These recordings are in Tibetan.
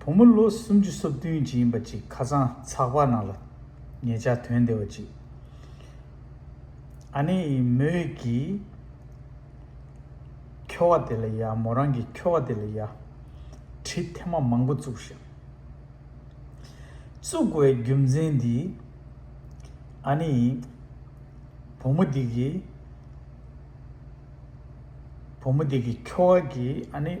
བུ་མོ་ལོ་སུམ་ཅུ་སོ་བདུན་གྱི་ཡིན་པ་ཅིག་ཁ་སང་ཚགས་པར་ནང་ལ་ངེད་ཅག་དོན་བདེ་བ་ཅིག་ཨ་ནེ་ཡི་མོད་ཀྱི་ཁྱོ་བ་དེ་ལ་ཡ་མོ་རང་གི་ཁྱོ་བ་དེ་ལ་ཡ་དྲི་ཐེ་མ་མང་པོ་བཙུགས་ཤིང། བཙུགས་བའི་རྒྱུ་མཚན་འདི་ཨ་ནེ་ཡི་བུ་མོ་དེ་གི་བུ་མོ་དེ་གི་ཁྱོ་བ་གིས་ཨ་ནེ།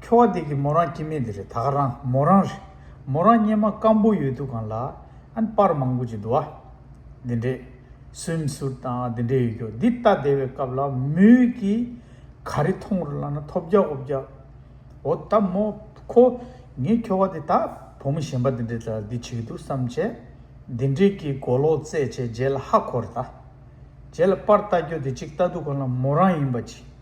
ཁྱོ་བ་དེ་གི་མོ་རང་ཀྱི་མེད་དེ་རེད་ད་ག་རང་མོ་རང་རེད་མོ་རང་སྙེ་མ་སྐམ་པོ་ཡོད་དུ་གང་ལ་ཨན་པར་མང་པོ་ཅིག་འདུ་བ། འདི་འདྲས་སུན་སུར་དང་འདི་འདྲས་ཡོད་ཀྱོ་འདི་ལྟ་བདེ་བའི་སྐབས་ལ་མོས་ཀྱི་ག་རེ་མཐོང་རུ་ལ་ན་ཐོབ་རྒྱ་འོབ་རྒྱ་འོ་ད་མོ་ཁོ་ངས་ཁྱོ་བ་དེ་ད་བུ་མོ་གཞན་པ་འདི་འདྲས་ད་འདི་བྱེད་ཀྱི་འདུག་བསམ་བྱས་འདི་འདྲས་ཀྱི་མགོ་ལོག་རྩེད་བྱས་རྗེས་ལ་ཧ་གོ་རེ་ད་རྗེས་ལ་པར་ལྟ་རྒྱོ་དེ་ཅིག་ལྟ་དུ་གང་ལ་མོ་རང་ཡིན་པ་ཅིག།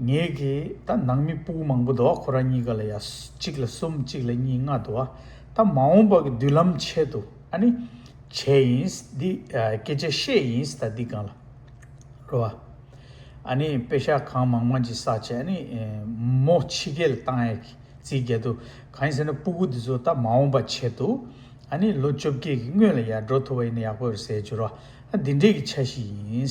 ངེད་ཀྱིས་ད་ནང་མི་སྤུག་མང་པོ་འདུག་ཨ་ཁོ་ར་གཉིས་ཀ་ལ་ཡ་གཅིག་ལ་གསུམ་གཅིག་ལ་གཉིས་ལྔ་འདུག་ཨ་ད་མ་འོངས་པ་གི་མདུན་ལམ་ཆེད་དུ་ཨ་ནི་བྱས་ཡིན་འདི་སྐད་ཆ་བཤད་ཡིན་ད་འདི་གང་ལ་རོ་ཨ་ཨ་ནི་དཔེ་ཤ་གང་མང་མང་གྱི་ས་ཆེ་ཨ་ནི་མོ་ཕྱི་རྒྱལ་ལ་བཏང་ཡ་གི་རྩིས་རྒྱལ་དུ་གང་ཡིན་ཟེར་ན་སྤུག་གུ་འདི་ཚོ་ད་མ་འོངས་པ་ཆེད་དུ་ཨ་ནི་ལོ་བཅོ་བརྒྱད་གི་སྔོན་ལ་ཡ་འགྲོ་ཐུབ་པ་ཡིན་ན་ཡག་པོ་རེད་ཟེར་རྒྱུ་རོ་ཨ་འདི་འདྲས་གི་ཆ་ཞིག་ཡིན།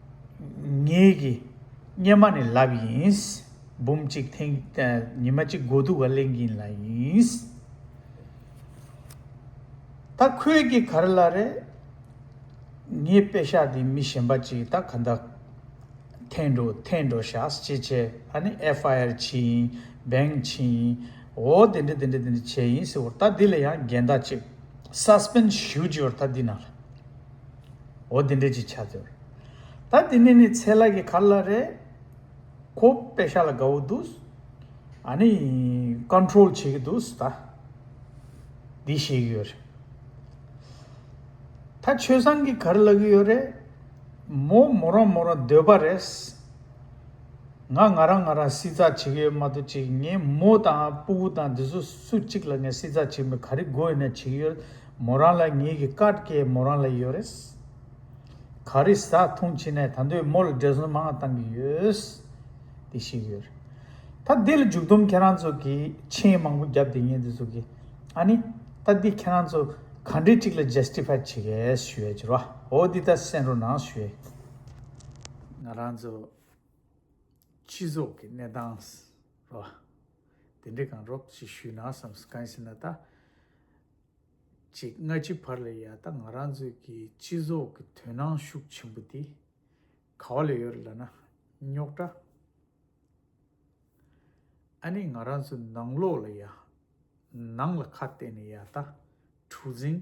ངེད་ཀྱི་གཉེར་མ་ནི་ལབ་ཡིན། འབུམ་གཅིག་ཐེངས་ཉི་མ་གཅིག་མགོ་འདུག་བ་གླེང་གིན་ལ་ཡིན། ད་ཁོད་ཀྱི་གར་ལ་རེད། ངས་དཔེ་ཤ་འདི་མི་གཞན་པ་གཅིག་ད་ག་འདའ། འཐེན་འགྲོ་འཐེན་འགྲོ་ཤགས་ཅེས་བྱས་ཨ་ནི་ཨེ་ཧྥ་ཨེར་ཕྱི་ཡིན་བེང་ཕྱི་ཡིན། འོ་དེ་འདྲི་དེ་འདྲི་དེ་འདྲི་བྱས་ཡིན་ཟེར་བོར་ད་འདི་ལ་ཡང་འགལ་ཟླ་གཅིག། སཱ་སྤེན་ཞུ་རྒྱུ་ཡོར་ད་འདི་ན་ལ། འོ་དེ་འདྲས་ཅིག་བྱ་ཟེར། ད་དེ་ནས་ནི་ཚེ་ལགས་ཀྱི་གར་ལ་རེ། ཁོ་པད་ཤག་ལ་དགའ་བོ་འདུག། ཨ་ནི། Control། བྱེད་ཀྱི་འདུག་ད། འདི་བཤད་ཀྱི་ཡོད་རེད། ད་ཆོས་བཟང་གི་གར་ལ་གི་ཡོད་རེད། མོ་མོ་རང་མོ་རང་སྡོད་པ་རེད། ང་ང་རང་ང་རང་སྲིད་ཚགས་བྱེད་ཀྱི་ཡོད་མ་གཏོགས་ཅིག་ངའི་མོ་དང་སྤུ་བོ་དང་དེ་ཚོ་སུ་གཅིག་ལ་ངས་སྲིད་ཚགས་བྱེད་མི་ག་རེ་དགོས་ཡོད་ན་བྱེད་ཀྱི་ཡོད། མོ་རང་ལ་ངེད་ཀྱི་བཀའ་བཀྱེ་མོ་རང་ལ་ཡོད་རེད། ག་རེ་ཟ་འཐུང་ཕྱི་ནས་ད་འདོད་མོ་ལ་འགྲེལ་བཟོ་མང་བཏང་གི་ཡོད། དེ་ཤེས་ཀྱི་ཡོད་རེད། ད་འདི་ལ་མཇུག་སྡོམ་ཁྱེད་རང་ཚོ་གིས་མཆན་མང་པོ་བརྒྱབ་དེ་ངེད་འདི་ཚོ་གིས་ཨ་ནི། ད་འདི་ཁྱེད་རང་ཚོ་ག་འདྲས་གཅིག་ལ Justify བྱེད་གལ་ཞུ་ཡ་གྱི་རོ་ཨོ་འདི་ད་སེན་རོ་ནང་ཞུ་ཡ་གྱི། ང་རང་ཚོ་སྤྱི་ཚོགས་ཀྱི་གནས་སྟངས་རོ་དེ་འདྲས་གང་རོགས་ཞིག་ཞུས་ན་བསམ་གང་ཡིན་ཟེར་ན་ད། ཅིག་སྔ་ཕྱི་བར་ལ་ཡང་ད་ང་རང་ཚོའི་གི་སྤྱི་ཚོགས་ཀྱི་དོན་སྣང་ཤུགས་ཆེན་པོ་དེ་ག་བ་ལ་ཡོད་ལ་ན་རྙོག་དྲ་ཨ་ནི་ང་རང་ཚོའི་ནང་ལོགས་ལ་ཡང་ནང་ལ་ཁ་གཏད་ནས་ཡང་ད་འཁྲུག་འཛིང་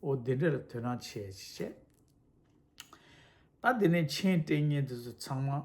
འོ་དེ་འདྲ་ལ་དོན་སྣང་ཆེ་བྱེད་ད་དེ་ནས་མཆན་སྤྲད་ཉིན་དེ་ཚོ་ཚང་མ།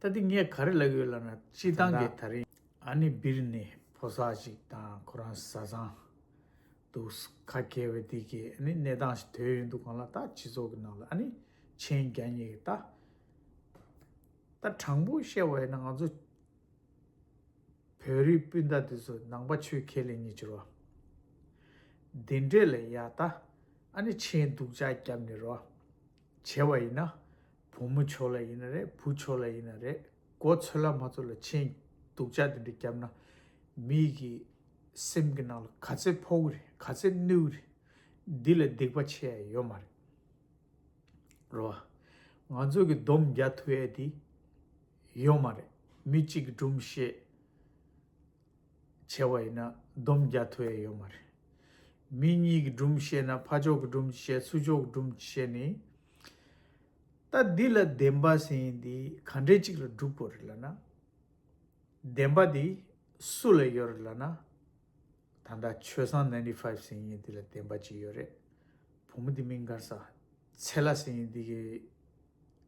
ད་དེ་ངས་ག་རེ་ལབ་ཡོད་ལབ་ན་སྤྱི་བཏང་གི་ད་རིང། ཨ་ནི་སྦིར་ནི་ཕོ་སར་ཅིག་དང་ཁོ་རང་བཟའ་ཚང་འདུག་ཁ་མཁས་པའི་དེ་གི་ཨ་ནི་གནས་སྟངས་ཞིག་དོད་ཡོད་འདུག་གང་ལ་ད་སྤྱི་ཚོགས་ཀྱི་ནང་ལ་ཨ་ནི་མཆན་རྒྱ་གཉིས་ཀྱི་ད། ད་དྲང་པོ་བཤད་པ་ཡིན་ན་ང་ཚོ་བོད་རིགས་སྤུན་ཟླ་དེ་ཚོ་ནང་པ་ཆོས་ཁས་ལེན་གཉིས་ཀྱི་རོ། དེ་འདྲས་ལ་ཡ་ད་ཨ་ནི་མཆན་སྡུག་ཅག་རྒྱབ་ནི་རོ། བྱས་བ་ཡིན་ན། བུ་མོ་ཆོས་ལ་ཡིན་ན་རེད་བུ་ཆོས་ལ་ཡིན་ན་རེད་གོ་ཚོད་ལ་མ་ཚོད་ལ་ཆེན་སྡུག་ཅག་དེ་འདྲ་བརྒྱབ་ན། མི་ཡི་གི་སེམས་ཀྱི་ནང་ལ་ག་ཚད་ཕོག་གི་རེད་ག་ཚད་གནོད་གི་རེད། འདི་ལ་སྡིག་པ་ཆེ་ཡ་ཡོད་མ་རེད། རོ། ང་ཚོ་གི་སྡོམ་རྒྱ་ཐུ་ཡ་དེ། ཡོད་མ་རེད་མི་གཅིག་གི་སྒྲུམ་བཤད། བྱས་བ་ཡིན་ན་སྡོམ་རྒྱ་མཐོ་ཡས་ཡོད་མ་རེད། མི་གཉིས་ཀྱི་སྦྲུམ་བཤད་ན་ཕ་ཅོག་གི་སྦྲུམ་གྱི་བཤད་སུ་ཅོག་གི་སྦྲུམ་གྱི་བཤད་ནི། ད་འདི་ལ་བདེན་པ་ཟེར་ཡིན་འདི་ག་འདྲེ་གཅིག་ལ་འགྲུབ་དགོས་རེད་ལ་ན། བདེན་པ་འདི་སུ་ལ་ཡོད་རེད་ལ་ན། ད་ལྟ་ཆོས་བཟང Ninety Five ཟེར་ཡིན་འདི་ལ་བདེན་པ་ཅི་ཡོད་རེད། བུ་མོ་འདི་མི་འགར་ཟ་འཚལ་ལ་ཟེར་ཡིན་འདི་གི་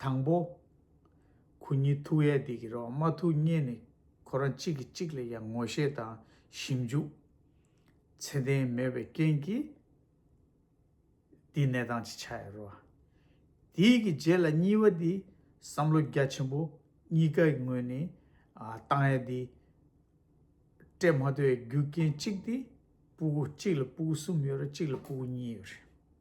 དང་པོ། གུ་ཉི་ཐུགས་ཡས་འདི་གི་རོ་མ་ཐུགས་རྙེད་ནས་ཁོ་རང་གཅིག་གིས་གཅིག་ལ་ཡང་ངོ་ཤེས་དང་ཞིབ་འཇུག་ཚད་ལྡན་མེད་པའི་རྐྱེན་གྱིས། འདི་ནད་དང་ཅི་ཆ་ཡ་རོ། དེ་ཡི་གི་རྗེས་ལ་གཉིས་པ་འདི་བསམ་བློ་རྒྱ་ཆེན་པོ་གཉིས་ཀ་ཡི་ངོས་ནས་བཏང་ཡ་འདི། སྤྲད་མ་ཐུབ་ཡའི་རྒྱུ་རྐྱེན་གཅིག་འདི་སྤུ་གུ་གཅིག་ལ་སྤུ་གུ་གསུམ་ཡོད་རེད་གཅིག་ལ་སྤུ་གུ་གཉིས་ཡོད་རེད།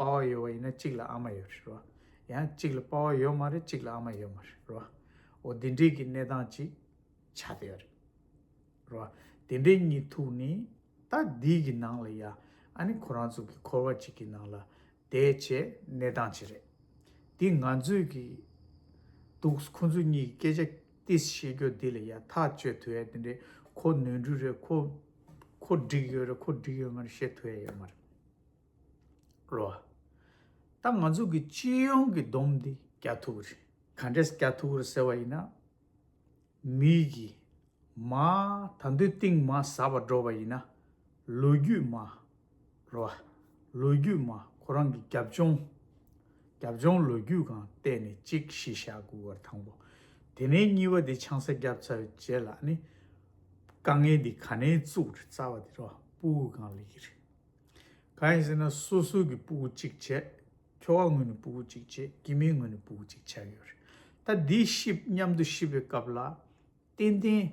དཔའ་བོ་ཡོད་བ་ཡིན་ན་གཅིག་ལ་ཨ་མ་ཡོད་རེད་རོ། ཡང་གཅིག་ལ་དཔའ་བོ་ཡོད་མ་རེད་གཅིག་ལ་ཨ་མ་ཡོད་མ་རེད་རོ། འོ་དེ་འདྲིས་ཀྱི་གནས་སྟངས་ཅིག་ཆགས་བསྡད་ཡོད་རེད་རོ། དེ་འདྲིས་གཉིད་ཐུག་ནས་ད་འདིས་ཀྱི་ནང་ལ་ཡ་ཨ་ནི་ཁོ་རང་ཚོ་གི་འཁོར་བ་ཅིག་གི་ནང་ལ་བསྡད་ཆེས་གནས་སྟངས་ཅིག་རེད། འདི་ང་ཚོས་ཀྱི་འདུག་ཁོ་ཚོ་གཉིས་ཀྱི་སྐད་ཆ་ཏིས་བཤད་རྒྱུ་འདི་ལ་ཡ་ཐག་གཅོད་ཐུ་ཡ་དེ་འདྲིས་ཁོ་ནོན་འགྲུས་རེད་ཁོ་ཁོ་འགྲིག་ཡོད་རེད་ཁོ་འགྲིག་ཡོད་མ་རེད་བཤད་ཐུ་ཡ་ཡོད་མ་རེད། རོ། ད་ང་ཚོ་གི་སྤྱི་ཡོངས་ཀྱི་བསྡོམས་འདི་རྒྱ་ཐུག་རེད། ག་འདྲས་རྒྱ་ཐུག་རེད་ཟེར་བ་ཡིན་ན། མིག་གིས་མ་ད་འདོད་གཏིང་མ་ཟ་བར་འགྲོ་བ་ཡིན་ན། ལོ་རྒྱུས་མ། རོ། ལོ་རྒྱུས་མ་ཁོ་རང་གི་རྒྱབ་ལྗོངས། རྒྱབ་ལྗོངས་ལོ་རྒྱུས་གང་བལྟས་ནས་གཅིག་ཞི་བཞག་དགོས་བར་དང་པོ། དེ་ནས་གཉིས་པ་འདི་ཆང་ས་བརྒྱབ་ཚར་རྗེས་ལ་ནི། དཀའ་ངལ་འདི་ག་ནས་བཙུགས་རེད་རྩ་བ་འདི་རོ་སྤུ་གང་ལེགས་ཀྱི་རེད། གང་ཡིན་ཟེར་ན་སོ་སོ་གི་སྤུ་གུ་གཅིག་བྱས། ཁྱོ་བ་ངོས་ནས་སྤུ་གུ་གཅིག་བྱས་སྐྱེས་མའི་ངོས་ནས་སྤུ་གུ་གཅིག་བྱས་ཡོད་རེད། ད་འདི་ཤིབ་མཉམ་དུ་ཤིབ་པའི་སྐབས་ལ། ཏན་ཏན།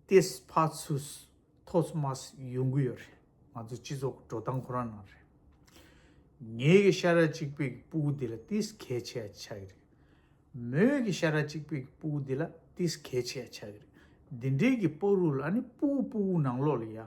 ཏེས་ཕ་ཚུས། ཐོས་མཱས་ཡོང་གི་ཡོད་རེད། ང་ཚོ་སྤྱི་ཚོགས་འགྲོ་སྟངས་ཁོ་རང་ནང་རེད། ངེད་ཀྱི་ཤ་ར་གཅིག་པའི་གི་སྤུ་གུ་འདི་ལ་ཏིས་གལ་ཆེ་ཡ་ཆགས་ཀྱི་རེད། མོའི་གི་ཤ་ར་གཅིག་པའི་གི་སྤུ་གུ་འདི་ལ་ཏིས་གལ་ཆེ་ཡ་ཆགས་ཀྱི་རེད། འདི་འདྲའི་གི་སྤོ་རུ་ལ་ནི་སྤུ་གུ་སྤུ་གུ་ནང་ལོགས་ལ་ཡ།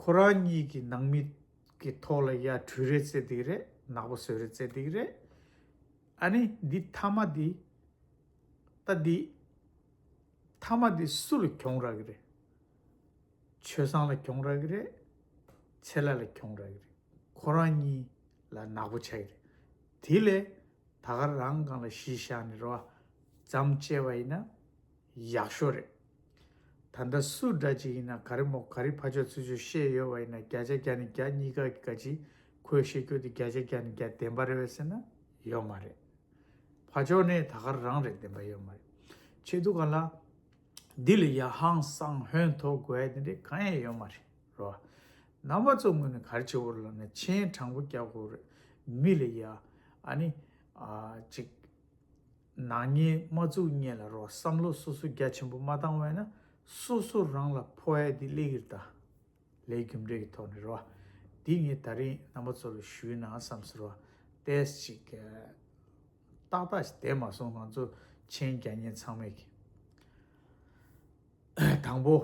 ཁོ་རང་གཉིས་ཀྱི་ནང་མི་གི་ཐོག་ལ་ཡར་གྲུ་རེ་བརྩེ་འདིག་རེད་ནག་པོ་སོད་རེ་བརྩེ་འདིག་རེད། ཨ་ནི་འདི་མཐའ་མ་འདི། ད་འདི། མཐའ་མ་འདི་སུ་ལ་གྱོང་རག་གི་རེད། ཆོས་བཟང་ལ་གྱོང་རག་གི་རེད། ཚེ་ལ་ལ་གྱོང་རག་གི་རེད། ཁོ་རང་གཉིས་ལ་ནག་པོ་ཆགས་གི་རེད། དེ་ལས། ད་ག་རང་གང་ལ་གཞི་བཞག་ནས་རོ། བརྩམས་བཅད་པ་ཡིན་ན། ཡག་ཤོས་རེད། ད་ལྟ་སུ་འདྲ་ཅིག་ཡིན་ན་ག་རེ་མོ་ག་རེ་ཕ་ཆོག་ཚུལ་ཆོག་ཤེས་ཡོད་བ་ཡིན་ན་བརྒྱ་ཆ་བརྒྱ་ནས་བརྒྱ་གཉིས་ཀ་ག་ཅིག་ཁོས་བཤད་རྒྱུ་དེ་བརྒྱ་ཆ་བརྒྱ་ནས་བརྒྱ་བདེན་པ་རེད་བས་ཟེར་ན་ཡོད་མ་རེད། ཕ་ཆོག་ནི་ད་གར་རང་རེད་བདེན་པ་ཡོད་མ་རེད། ཆེད་དུ་ག་ལ། འདི་ལ་ཡ་ཧང་སང་ཧོན་ཐོ་དགོས་ཡ་དེ་འདྲས་གང་ཡང་ཡོད་མ་རེད་རོ། རྣམ་པ་ཚོ་ངོས་ནས་གར་ཆེ་བོར་ལབ་ན་མཆན་དྲང་པོ་རྒྱག་དགོས་རེད་མི་ལ་ཡ། ཨ་ནི། ཨ་ཅིག། ནག་ཉེས་མ་བཙུགས་གཉེན་ལ་རོགས་བསམ་བློ་སོ་སོ་རྒྱ་ཆེན་པོ་མ་བཏང་བས་ན་སོ་སོ་རང་ལ་ཕོ་ཨེ་འདི་ལེགས་ཀིར་དང་ལའི་རྒྱུ་འབྲས་ཀི་ཐོག་ནས་རོ་འདི་ངས་ད་རིང་རྣམ་པ་ཚོ་ལ་ཞུས་ན་བསམ་སོ་རོ་ཏེས་ཅིག་ཏག་ཏག་ཞིག་དེ་མ་སོང་ང་ཚོ་མཆན་རྒྱ་ཉན་ཚང་མས་ཀི་དང་པོ།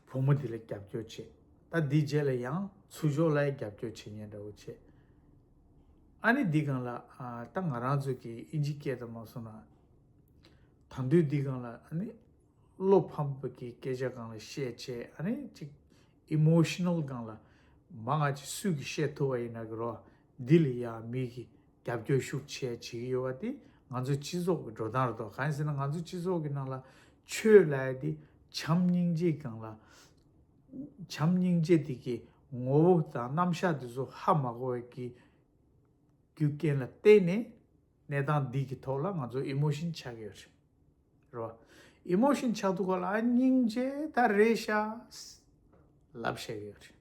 བུ་མོ་དེ་ལ་རྒྱབ་སྐྱོར་བྱེད། ད་འདི་རྗེས་ལ་ཡང་ཚུར་ཞོགས་ལ་རྒྱབ་སྐྱོར་བྱེད་ཉན་འདྲ་བོ་བྱེད། ཨ་ནི་འདི་གང་ལགས་ད་ང་རང་ཚོ་གི་ཨི་འཇིག་སྐད་དུ་མ་གསུང་ན། ད་འདུས་འདི་གང་ལགས་ཨ་ནི། བློ་ཕམ་པོ་གི་སྐད་ཆ་གང་ལ་བཤད་བྱས་ཨ་ནི་ཅིག Emotional གང་ལ། མ་ང་ཅིག་སུས་གི་བཤད་ཐུབ་བ་ཡིན་ན་གི་རོགས། འདི་ལ་ཡང་མིག་གིས་རྒྱབ་སྐྱོར་ཤུགས་ཆེ་བྱེད་ཀྱི་ཡོད་པ་དེ་ང་ཚོའི་སྤྱི་ཚོགས་ཀྱི་འགྲོ་སྟངས་རེད་དོ་གང་ཡིན་ཟེར་ན་ང་ཚོའི་སྤྱི་ཚོགས་ཀྱི་ནང་ལ་ཆོས་ལ་ཡ་དེ་བྱམས་སྙིང་རྗེ་གང་ལ་བྱམས་སྙིང་རྗེ་དེ་གའི་ངོ་བོ་དང་རྣམ་གཞག་དེ་ཚོ་ཧ་མ་གོ་བའི་གི་རྒྱུ་རྐྱེན་ལ་བརྟེན་ནས་གནས་སྟངས་འདི་གི་ཐོག་ལ་ང་ཚོ་ཨིམོཤིན་ཆགས་ཀྱི་ཡོད་རེད་རོ། ཨིམོཤིན་ཆགས་འདུག་ག་ལ་ཨ་སྙིང་རྗེ་ད་རེད་ཤག་ལབ་བཤད་ཀྱི་ཡོད་རེད།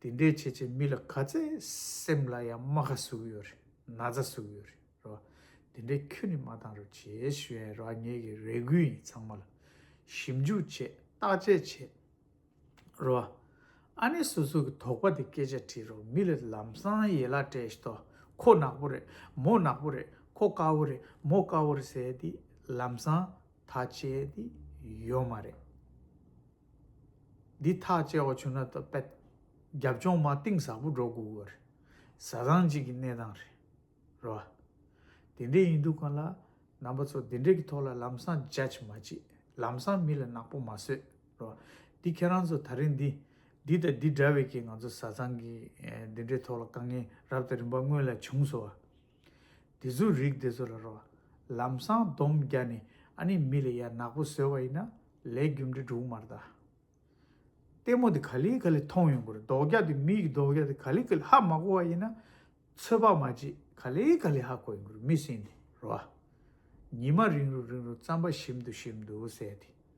དེ་འདྲའི་བྱེད་བྱེད་མི་ལ་ག་ཚད་སེམས་ལ་ཡང་རྨ་ཁ་ཟུག་ཡོད་རེད་ན་ཚ་ཟུག་ཡོད་རེད་རོ། དེ་འདྲའི་ཁྱོད་ནི་མ་བཏང་རུ་བྱེད་ཞོན་ར་ངེད་ཀྱི་རེ་སྒུག་ཡིན་ཚང་མ་ལ་ཞིབ་འཇུག་བྱེད་བརྟག་དཔྱད་བྱེད་རོ། ཨ་ནེ་སོ་སོ་གི་དོགས་པ་དེ་སྐད་ཆ་དྲིས་རོགས་མི་ལ་ལམ་སང་ཡེ་ལ་བཀྲས་ཤྟོ་ཁོ་ནག་པོ་རེད་མོ་ནག་པོ་རེད་ཁོ་དཀར་བོ་རེད་མོ་དཀར་བོ་རེད་ཟེར་དེ་ལམ་སང་ད་བྱས་དེ་ཡོད་མ་རེད། འདི་ཐག་བཅད་བ་བྱུང་ན་ད་པད། རྒྱབ་ལྗོངས་མ་གཏིང་ཟབ་པོ་འགྲོ་དགོས་གི་རེད། བཟའ་ཚང་གཅིག་གི་གནས་སྟངས་རེད། རེད་བ། དེ་འདྲས་ཡིན་འདུག་གང་ལ། རྣམ་པ་ཚོ་དེ་འདྲས་ཀྱི་ཐོག་ལ་ལམ་སང judge མ་བྱེད། ལམ་སང་མི་ལ་ནག་པོ་མ་བཟོས། རེད་བ། འདི་ཁྱེད་རང་ཚོ་ད་རིང་འདི། འདི་དང་འདི་འདྲ་བའི་ཀྱི་ང་ཚོ་བཟའ་ཚང་གི། དེ་འདྲའི་ཐོག་ལ་དཀའ་ངལ་རབ་དང་རིམ་པ་སྔོན་ལ་བྱུང་སོང་བ། དེ་ཚོའི་རིགས་དེ་ཚོ་ལ་རོ། ལམ་སྲང་སྡོམ་བརྒྱ་ནི་ཨ་ནི་མི་ལ་ཡར་ནག་པོ་བཟོས་བ་ཡིན་ན་ལས་རྒྱུ་འབྲས་དྲུག་མར་དག། ལྟད་མོ་དེ་ག་ལི་ག་ལི་མཐོང་ཡོང་གི་རེད་རྡོག་རྒྱ་དེ་མི་ཡི་རྡོག་རྒྱ་དེ་ག་ལི་ག་ལི་ཧ་མ་གོ་བ་ཡིན་ན། ཚོད་དཔག་མ་བྱེད་ག་ལི་ག་ལི་ཧ་གོ་ཡོང་གི་རེད་མི་སྲིན་དེ་རོ། ཉི་མ་རིང་རུ་རིང་རུ་རྩམ་པ་ཞིམ་དུ་ཞིམ་དུ་ཟས་དེ།